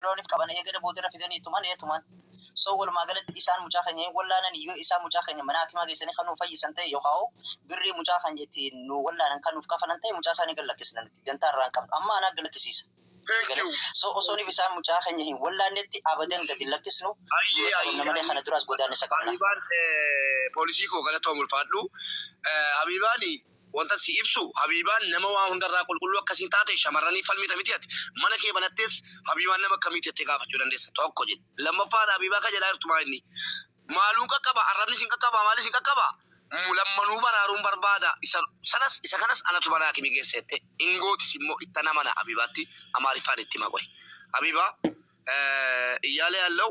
loonif qaban eegada boodarra fidanii tuman ee tuman. So walumaa galatti isaan mucaa keenya hin wallaanan yoo isaan mucaa keenya mana hakimaa geessanii kan nuuf fayyisan ta'e yookaan birrii mucaa keenya ittiin nu wallaanan kan nuuf kafalan ta'e mucaa isaanii gad lakkisna nuti dantaa irraa hin qabnu amma anaa gad lakkisiisa. Thank you. So osooniif isaan mucaa keenya hin wallaannetti abadan gad hin lakkisnu Ayyee qabna ayyee malee kana duraas godaannisa qabna. Habibaan eh, poolisii koo galatoom ulfaadhu. Eh, Habibaani Wantan sii ibsu habiibaan nama waan hundarraa qulqulluu akkasiin taate shamarraniif falmita miti ati mana kee banattees habiibaan nama akkamiiti jettee gaafachuu dandeessa tokko jedhi lammaffaan habiibaa ka jedhaa jirtu maa inni maaluun qaqqaba arrabnis hin qaqqabaa maalis hin qaqqabaa lammanuu baraaruun barbaada isa sanas isa kanas anatu mana hakimi geessa jette hin gootis immoo ittan amana habiibaatti amaariffaan itti hima qoy habiibaa iyyaalee allau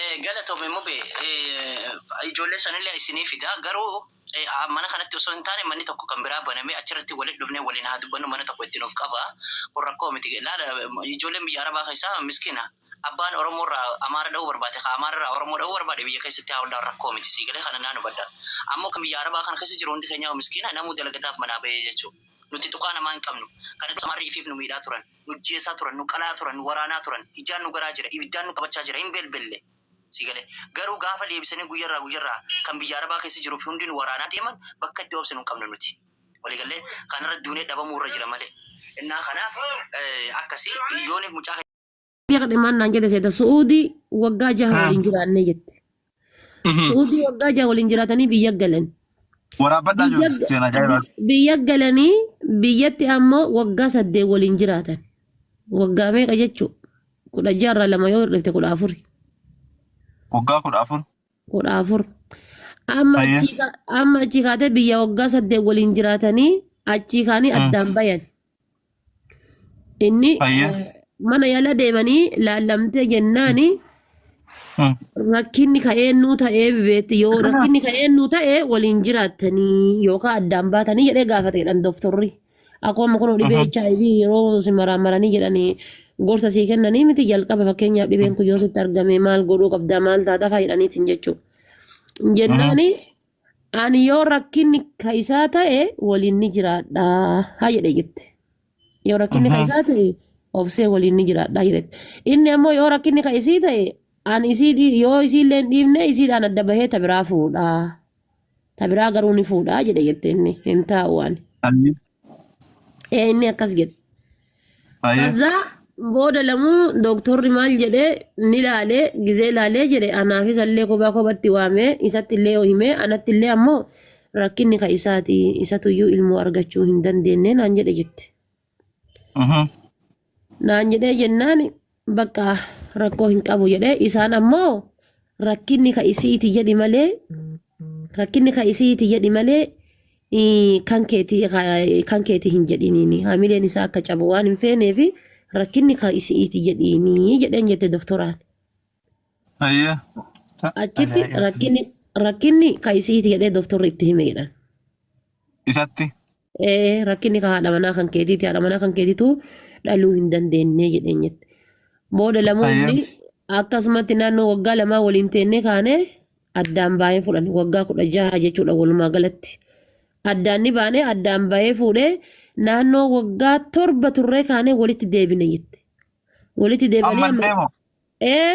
Eh, Galatomi mube eh, ijoollee sanillee isinii fida garuu eh, ah, mana kanatti osoo hin taane manni tokko kan biraa banamee achirratti walitti dhufnee waliin haa dubbannu mana tokko itti nuuf qaba kun rakkoo miti laala eh, ijoolleen biyya arabaa keessaa miskiina abbaan oromoo irraa amaara dha'uu barbaade ka amaara irraa oromoo dha'uu barbaade biyya keessatti haa hundaan rakkoo miti sii galee kana naan hubadha ammoo kan biyya arabaa kana keessa jiru hundi keenyaa miskiina namuu dalagataaf manaa bahee jechuudha nuti tuqaa namaa hin qabnu kanatti amaarri ifiif nu miidhaa turan nu ajjeesaa turan, nu qalaa turan, nu waraanaa turan, ijaan nu garaa jira, ibiddaan nu qabachaa jira, hin belbelle. Sii galee? Garuu gaafa deebisanii guyyarraa guyyarraa kan biyya Arabaa keessa jiruu fi hundi nu waraanaa deeman bakka itti obsinu hin qabnu nuti. Walii gallee? Kanarra duunee dhabamuu irra jira malee. Innaa kanaaf akkasi yooni mucaa Biyya kadhe maan naan jedhe seeta su'uudii waggaa jaha waliin jiraannee jette. Mhm. Suudii waggaa jaha waliin jiraatanii biyya galan. Waraabbadhaa Biyya, jiru seenaa ajaa'ibaati. bi- biyya galanii biyyatti ammoo waggaa saddeet waliin jiraatan. Waggaa meeqa jechuun kudha jaarraa lama yoo hir'ifte kudha afuri. Waggaa kudha afur. kudha afur. Amma Ayyee. achii ka- amma achii kaatee biyya waggaa saddeet waliin jiraatanii achii kaanii Mm. addaan bayan. Inni Hayyee. eh, mana yala deemanii laallamtee jennaani Mm. rakkinni ka'eennuu ta'ee beetti yoo rakkinni ka'eennuu ta'e waliin jiraattanii yookaan addaan baatanii jedhee gaafate jedhan dooftorri. Akkuma kun dhibee HIV yeroo si maraamaranii jedhanii gorsa sii kennanii miti jalqaba fakkeenyaaf dhibeen kun yoo sitti argame maal godhuu qabdaa maal taataa fayyadaniitiin jechuudha. Jennaani Ani yoo rakkinni ka isaa ta'e waliin ni jiraadha haa jedhe jette. Yoo rakkinni ka isaa ta'e obsee waliin ni jiraadha jedhette. Inni ammoo yoo rakkinni ka isii ta'e ani isii dhii- yoo isiillee hin dhiifne isiidhaan adda bahee ta biraa fuudha. Ta biraa garuu ni fuudha jedhe jette inni hin taa'u ani. Ani Ee inni akkas jedhe. Hayyee. Kaza booda lamuu dooktorri maal jedhee ni laalee gizee laalee jedhe anaafis illee kophaa kophatti waamee isatti illee himee anatti illee ammoo rakkinni ka isaati isatuyyuu ilmoo argachuu hin dandeenye naan jedhe jette. Mhm. naan jedhee jennaan bakka rakkoo hin qabu jedhee isaan ammoo rakkinni ka isiiti jedhi malee rakkinni ka isiiti jedhi malee ii, kan keeti ka- kan keeti hin jedhiniini hamileen isaa akka cabu waan hin feeneefi rakkinni ka isiiti jedhiinii jedheen jette doktoraan Ayya. achitti Alaa- rakkinni rakkinni ka isiiti jedhee doktorri itti hime jedhan Isatti. Ee, rakkinni kan haadha manaa kan keetiiti haadha manaa kan keetitu dhaluu hin dandeenye jedheen jette booda lamoonni Ayyee. akkasumatti naannoo waggaa lamaa waliin teennee kaanee addaan baay'ee fudhan waggaa kudha jaha jechuudha walumaa galatti addaan ni baanee addaan baay'ee fuudhee naannoo waggaa torba turree kaanee walitti deebine jette walitti deebanii amma Ammallee moo? ee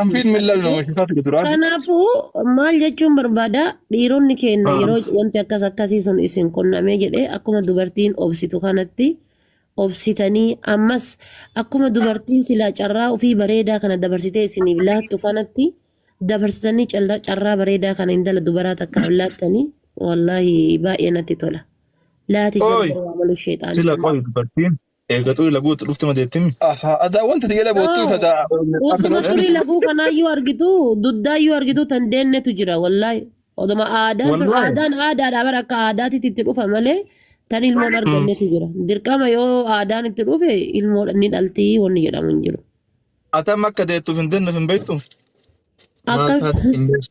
Affiin millal nama shisaa ture duraan. Kanaafuu maal jechuun barbaada dhiironni keenya Ah. yeroo wanti akkas akkasii sun isin qunnamee jedhee akkuma dubartiin obsitu kanatti obsitanii ammas akkuma dubartiin silaa carraa ofii bareedaa kana dabarsitee isiniif laattu kanatti dabarsitanii carraa carraa bareedaa kana intala dubaraa takkaaf laattanii wallaahi baay'ee natti tola. Laati Ooy. jabduu amalu sheexaanii. Sila qoy dubartiin Eega xurii laguu itti dhufte madeettimi. Ahaa, adaa wanta si jala boottuu ifa taa. Osuma xurii laguu kanaa yoo argitu duddaa yoo argitu tan deennetu jira wallaahi. Oduma aadaan tun Wallaahi. aadaan aadaadha bara akka aadaatitti itti dhufa malee tan ilmoon argannetu jira. Dirqama yoo aadaan itti dhufe ilmoo ni dhalti wanni jedhamu hin jiru. Atam akka deettuuf hin deenneef hin beektu. Maal Akka taate hin beektu.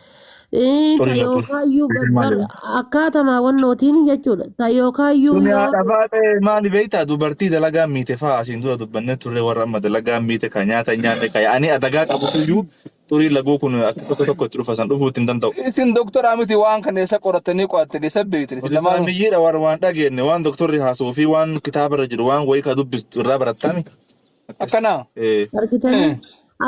Ee, ta Xurii batuu. yookaayyuu Isin bar maali? akkaatama wannootiin jechuudha. Ta yookaayyuu Suni yoo haadha faatee maali beektaa dubartii dalagaa miite fa'aa asiin dura dubbannee turre warra amma dalagaa miite kan nyaata hin nyaanne kan ani adagaa qabutuyyuu xurii laguu kun akka tokko tokko itti dhufa san dhufuu ittiin danda'u. Isin doktoraa miti waan kana eessa qorattanii qo'attanii eessa beektan isin Odeeffannoo lamaanuu. biyyeedha waan waan dhageenye waan doktorri haasa'uu fi waan kitaaba irra jiru waan wayii kan dubbistu irraa barattami. Akkas. Akkanaa. Ee. Argitanii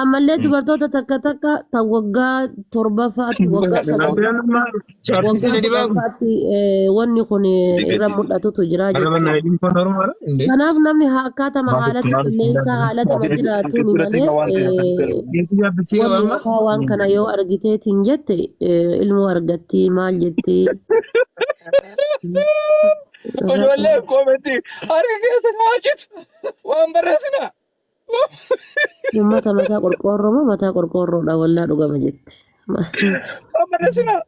ammallee Mm. dubartoota takka takka tan waggaa torbaffaatti waggaa Rabbi sadaffaa nama chaartii waggaa sani dibaa kun. kudhanfaatti eh, wanni kun eh, Dibe irra dibe. mul'atutu jira Araba jechuudha. naa ilmi kun Oromoodha. Indee. Kanaaf namni haa akkaatama Maaf haalata maaf qilleensaa haalatama maaf jiraatuun maaf malee waan ta'e akkas eh, ta'e. Geessi yaabbisee wanni waamma. yookaan waan kana yoo argiteetiin jette eh, ilmoo argattii maal jettii Ijoollee koometti harka keessa naa hojjetu. Waan barreessinaa. Uummata mataa qorqoorroo moo mataa qorqoorroodha wallaa dhugama jette. Ma- Waan barreessinaa.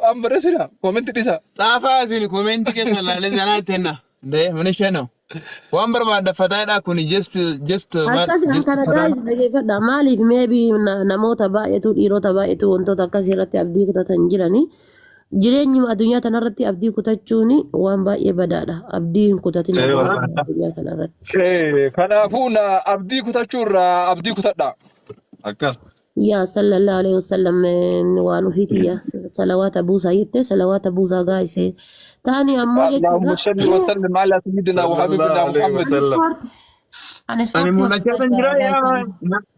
Waan barreessinaa. Koomenti dhisaa. Xaafaa isin koomenti keessa ilaalee sanaa itti henna. Dee mana isheen hoo. Waan barbaadda fataadhaa kun just just maal Akkasi an just kana fataadha. gaayis dhageeffadha. Maaliif meebi namoota baay'eetu dhiirota baay'eetu wantoota akkasii irratti abdii kutatan jiranii. Jireenyuma addunyaa tanarratti abdii kutachuun waan baay'ee badaadha. Abdii hin kutatin Ee, jireenyuma waraana. addunyaa kanarratti. Ee, Kanaafuu na abdii kutachuu irraa abdii kutadha. Akkas. Yaa sallallahu alaihi wasallam eh, waan ofiiti yaa salawaata buusaa jettee salawaata buusaa gaa'isee. Taani ammoo Allahumma jechuudha. salli wa sallim ala sayyidina wa habibina Sallallahu alaihi Muhammad. wasallam. Ani ispoortii. Ani Ani ispoortii mul'achaa hojjechaa kan jira jira yaa gaa'isanii.